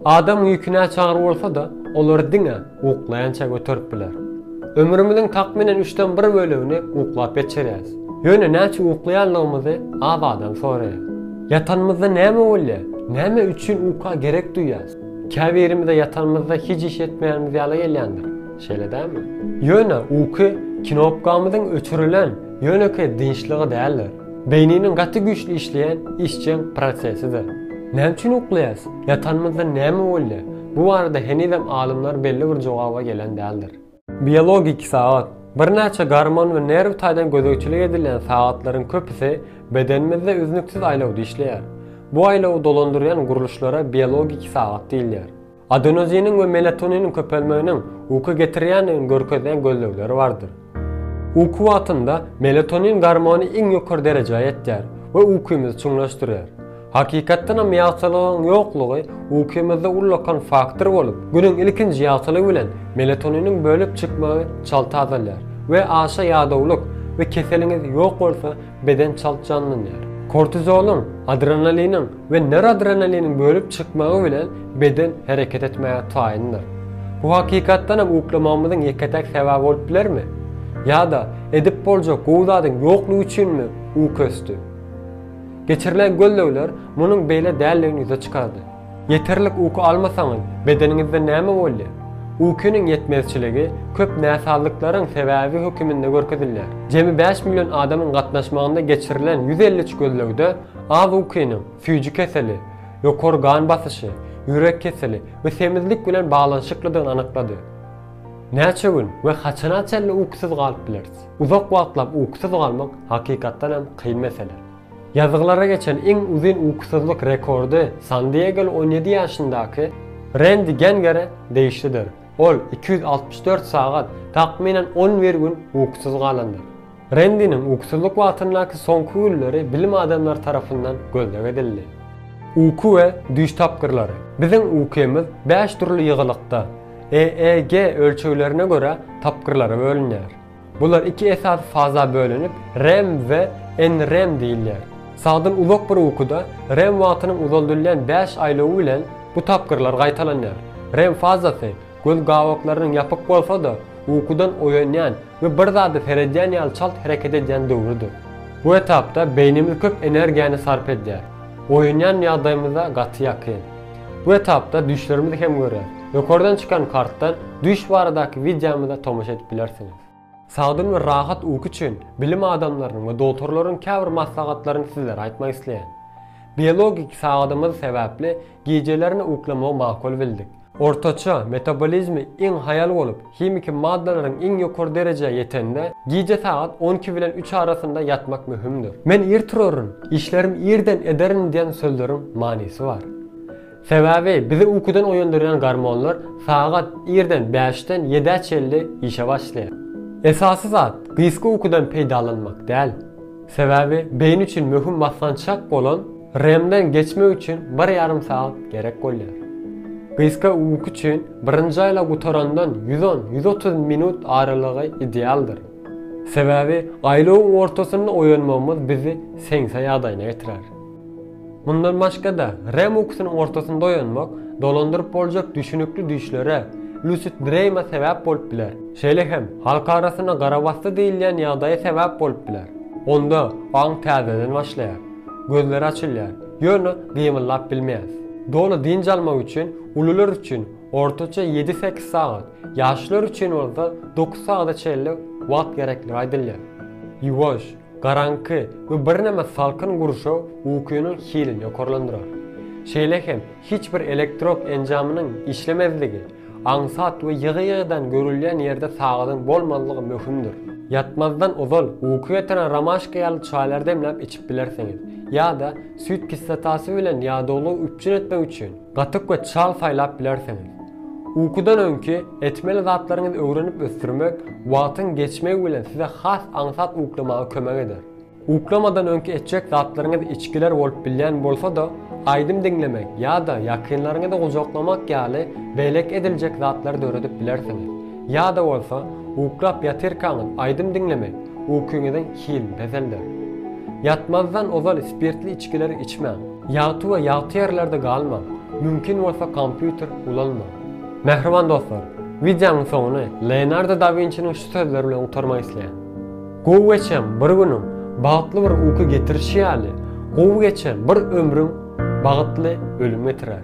Adam ýüki näçagyr bolsa-da, olary diňe uklaýança göterip biler. Ömrümiziň takmynan üçden bir bölegini uklap geçirýäris. Ýöne näçe uklaýanlygymyzy az adam soraýar. Ýatanymyzda näme bolýar? Näme üçin uka gerek duýýas? Käbirimize ýatanymyzda hiç iş etmeýänimiz ýaly gelýändir, şeýle dälmi? Ýöne uky knopkamyzyň öçürilen Ýönekeý dynçlygy däldir. Beýniniň gaty güýçli işleýän işjeň prosesidir. Näme üçin uklaýarys? Ýatanymyzda näme bolýar? Bu barada henizem alymlar belli bir jogaba gelen däldir. Biologik sagat, birnäçe gormon we nerw taýdan gözegçilik edilýän sagatlaryň köpüsi bedenimizde üznüksiz aýlawda işleýär. Bu aýlawy dolandyrýan gurluşlara biologik sagat diýilýär. Adenoziniň we melatoniniň köpelmeginiň uky getirýändigini görkezýän gözlegleri bardyr. Uky wagtynda melatonin gormony iň ýokary derejä ýetýär we ukymyzy çuňlaşdyrýar. Hakykatdan hem ýagtylygyň ýoklugy ukymyzda ullakan faktor bolup, günüň ilkinji ýagtylygy bilen melatoniniň bölüp çykmagy çalty azalýar we aşa ýadawlyk we keseliňiz ýok bolsa, Beden çalt janlanýar. Kortizolyň, adrenaliniň we noradrenaliniň bölüp çykmagy bilen beden hereket etmäge taýyndyr. Bu hakykatdan hem uklamagymyzyň ýeke-täk sebäbi bolup bilermi? Ýa-da edip boljak gowy zadyň ýoklugy üçinmi uky ösdi? Geçirilen gözlegler munuň beýle däldigini ýüze çykardy. Ýeterlik uky almasaňyz, bedeniňizde näme bolýar? Ukynyň ýetmezçiligi köp näsazlyklaryň sebäbi höküminde görkezilýär. Jemi bäş million adamyň gatnaşmagynda geçirilen ýüz elli üç gözlegde az ukynyň süýji keseli, ýokary gan basyşy, ýürek keseli we semizlik bilen baglanyşyklydygyny anyklady. Näçe gün we haçana çenli ukysyz galyp bileris? Uzak wagtlap ukysyz galmak hakykatdan hem kyn mesele. Ýazgylara geçen iň uzyn ukusyzlyk rekordy San Diegoly on ýedi ýaşyndaky Rendi Gengere degişlidir. Ol iki ýüz altmyş dört sagat, takmynan on bir gün ukusyz galandyr. Rendiniň ukusyzlyk wagtyndaky soňky günleri bilim adamlary tarapyndan gözleg edildi. Uky we düýş tapgyrlary. Biziň uky-ymyz bäş dürli ýygylykda, EEG ölçeglerine görä, tapgyrlara bölünýär. Bular iki esasy faza bölünip, rem we NREM diýilýär. Sagdyn uzak bir ukuda rem wagtynyň uzaldylýan bäş aýlawy bilen bu tapgyrlar gaýtalanýar. Rem fazasy göz gabaklarynyň ýapyk bolsa-da, ukudan oýanýan we bir zada seredýän ýaly çalt hereket edýän döwrüdir. Bu etapda beýnimiz köp energiýany sarp edýär. Oýanýan ýagdaýymyza gaty ýakyn. Bu etapda düýşlerimizi hem görýäs. Ýokardan çykan kartdan düýş baradaky wideomyza tomaşa edip bilersiňiz. Sagdyn we rahat uky üçin bilim adamlarynyň we dogtorlaryň käbir maslahatlaryny sizlere aýtmak isleýän. Biologik sagadymyz sebäpli gijelerine uklamagy makul bildik. Ortaça metabolizmi iň haýal bolup, Himiki maddalaryň iň ýokary derejä ýetende, gije sagat on iki bilen üç arasynda ýatmak möhümdir. Men ir turaryn, işlerimi irden ederin diýen sözleriň manysy bar. Sebäbi bizi ukudan oýandyrýan gormonlar sagat irden bäşden ýedä çenli işe başlaýar. Esasy zat, gysga ukudan peýdalanmak däl. Sebäbi beýni üçin möhüm basgançak bolan REM-den geçmek üçin bir ýarym sagat gerek bolýar. Gysga uky üçin birinji aýlag gutarandan ýüz on, ýüz otuz minut aralygy idealdyr. Sebäbi aýlagyň ortasynda oýanmagymyz bizi seňse ýagdaýyna getirer. Mundan başga-da, REM ukusynyn ortasynda oýanmak dolandyryp boljak düşnükli düýşlere, lucid dream-a sebäp bolup biler. Şeýle hem, halk arasynda garabasdy diýilýän ýagdaýa sebäp bolup biler. Onda aň täzeden başlaýar. Gözler açylýar, ýöne gymyldap bilmeýäs. Doly dynç almak üçin ulular üçin ortaça ýedi-sekiz sagat, ýaşlar üçin bolsa dokuz sagada çenli wagt gerekligi aýdylýar. Ýuwaş, Garaňky we birneme salkyn gurşaw ukynyň hilini ýokarlandyrar. Şeýle hem hiç bir elektrop enjamynyň işlemezligi, aňsat we ýygy-ýygydan görülýän ýerde sagadyň bolmazlygy möhümdir. Ýatmazdan ozal uky getirýän romaşka ýaly çaýlary demläp içip bilersiňiz, ýa-da süýt kislotasy bilen ýadawlygy üpjün etmek üçin Gatyk we çal saýlap bilersiňiz. Ukudan öňki etmeli zatlaryňyzy öwrenip ösdürmek wagtyň geçmegi bilen size has aňsat uklamaga kömek eder. Uklamadan öňki etjek zatlaryňyz içgiler bolup bilýän bolsa-da, aýdym diňlemek ýa-da ýakynlaryňyzy gujaklamak ýaly beýleki ediljek zatlary döredip bilersiňiz. Ýa-da bolsa, uklap ýatyrkaňyz aýdym diňlemek ukyňyzyň hilini peselder. Ýatmazdan ozal spirtli içgileri içmäň. Ýagty we ýagty ýerlerde galmaň, mümkin bolsa kompýuter ulanmaň. Mähriban dostlar, wideonyň soňuny Leonardo da Winçiniň şu sözleri bilen gutarmak isleýän, Gowy geçen bir günüň bagtly bir uky getirişi ýaly, gowy geçen bir ömrüň bagytly ölüm getirer.